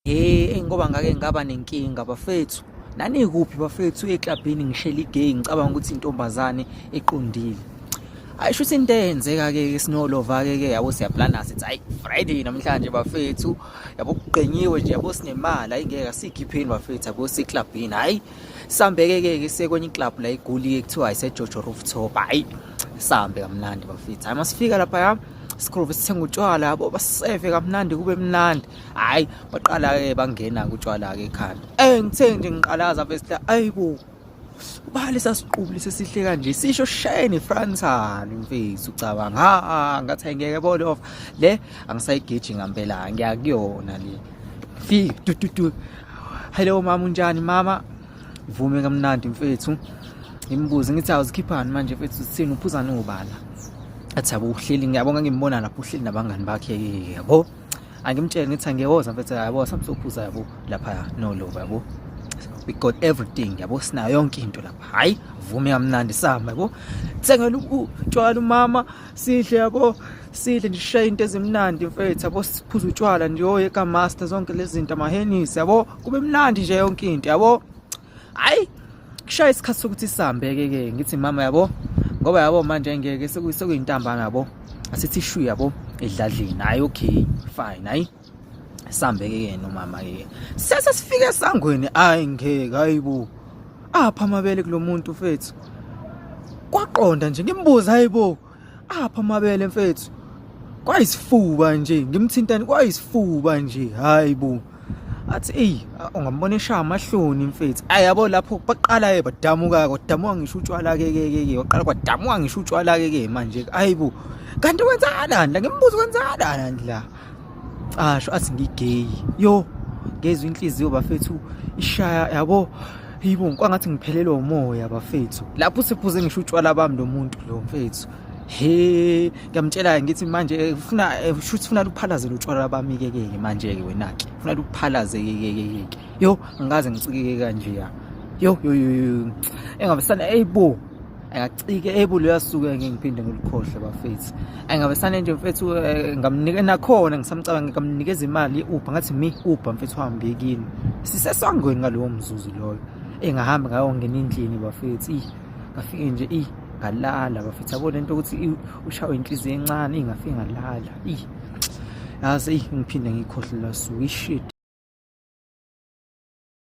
Hey, ngoba ngake ngaba nenkinga bafethu. Nanikuphi bafethu eklabhini ngishela igay ngicabanga ukuthi intombazane eqondile. Hayi shuthi into eyenzeka ke sinolova ke ke yabo siyaplana sithi hayi Friday namhlanje bafethu yabo kugqenyiwe nje yabo sinemali hayi ngeke sikhipheni bafethu yabo siklabhini hayi sambeke ke ke sekwenye iclub la igoli ke kuthiwa ise Jojo Rooftop hayi sambe kamnandi bafethu hayi masifika lapha sigrove sithenga utshwala yabo baseve kamnandi kube mnandi hayi baqala-ke bangena kutshwala-ke ekhanda ey ngithe nje ngiqalaza vesla ayi bo ubale sasiqubule sesihle kanje sisho shayeni fransani mfethu ucabanga ha ngathi ayingeke bolof le angisayigeji ngampela ngiyakuyona le fika tututu hello mama unjani mama Vume kamnandi mfethu. Ngimbuze ngithi awuzikhiphani manje mfethu sithini uphuza nobala. Athi yabo uhleli ngiyabonga ngimbona lapho uhleli nabangani bakhe yabo. Angimtshele ngithi angiyoza mfethu yabo samsophuza yabo lapha no lova yabo. We got everything yabo sinayo yonke into lapha. Hayi vume kamnandi sihamba yabo. Thengela utshwala umama sidle yabo sidle ndishaye into ezimnandi mfethu yabo siphuza utshwala ndiyoye ka master zonke lezi zinto amahenisi yabo. kube mnandi nje yonke into yabo hayi kushaya isikhathi sokuthi sihambeke ke ngithi mama yabo ngoba yabo manje ngeke sekuyintambama yabo asithi shu yabo edladleni hayi okay fine hayi sambeke ke nomama ke sese sifike sangweni hayi ngeke hayibo apha amabele kulomuntu mfethu kwaqonda nje ngimbuza hayibo apha amabele mfethu kwayisifuba nje ngimthintani kwayisifuba nje hayi bo athi eyi ungambona eshaya amahloni mfethu ayi yabo lapho baqala-ke badamuka-ke kwadamuka ngisho utshwala-ke ke ke ke waqala kwadamuka ngisho utshwala-ke ke manje-ke ayi bo kanti kwenzakalani la ngimbuza kwenzakalani la casho athi ngigeyi yo ngezwe inhliziyo bafethu ishaya yabo yibo kwangathi ngiphelelwe umoya bafethu lapho sephuze ngisho utshwala bami lo muntu lo mfethu he ngiyamtshela ngithi manje eh, ufuna eh, shuthi ufuna luphalaze lutshwala bami ke ke manje ke wena ke ufuna luphalaze ke ke ke yo ngaze ngicikeke kanje ya yo yo yo engabe sana eyibo ayacike ebulu yasuke ngeke ngiphinde ngilukhohle bafethu ayingabe sanento mfethu eh, ngamnike nakhona ngisamcabanga ngamnikeza imali ye-uber ngathi mi uber mfethu hambe kini sisesangweni ngalowo mzuzu loyo engahambi ngayo ngena endlini bafethu i ngafike nje i ngalala bafethu yabo lento ukuthi ushawe inhliziyo encane ingafike ngalala i yazi ngiphinde ngikhohle lasuku ishit